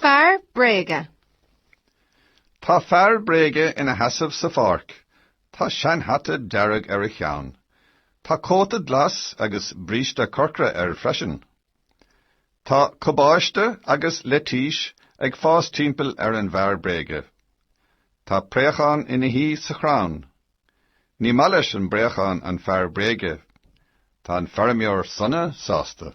Fear bréige. Tá fear bréige ina sheasamh sa pháirc. Tá seanhata dearg ar a cheann. Tá cóta glas agus bríste corcra air freisin. Tá cabáiste agus leitís ag fás timpeall ar an bhfear bréige. Tá préachán ina shuí sa chrann. Ní maith leis an bpréachán an fear bréige. Tá an feirmeoir sona sásta.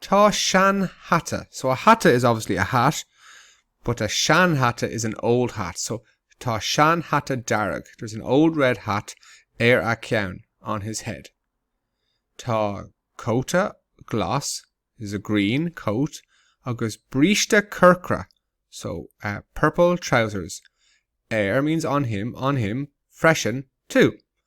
Tá seanhata. So a hata is obviously a hat, but a seanhata is an old hat. So Tá seanhata dearg There's an old red hat ar a cheann on his head. Tá cóta glas There's a green coat agus bríste corcra So uh, purple trousers air means on him, on him freisin too.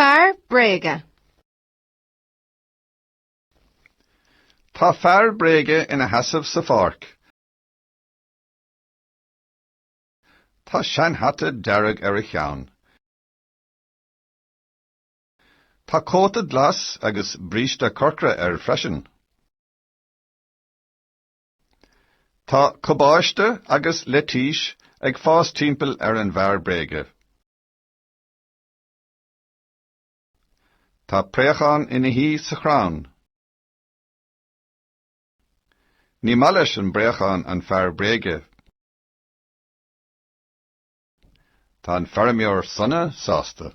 Fear bréige. Tá fear bréige ina sheasamh sa pháirc. Tá seanhata dearg ar a cheann. Tá cóta glas agus bríste corcra air freisin. Tá cabáiste agus leitís ag fás timpeall ar an bhfear bréige. Tá préachán ina shuí sa chrann. Ní maith leis an bpréachán an fear bréige. Tá an feirmeoir sona sásta.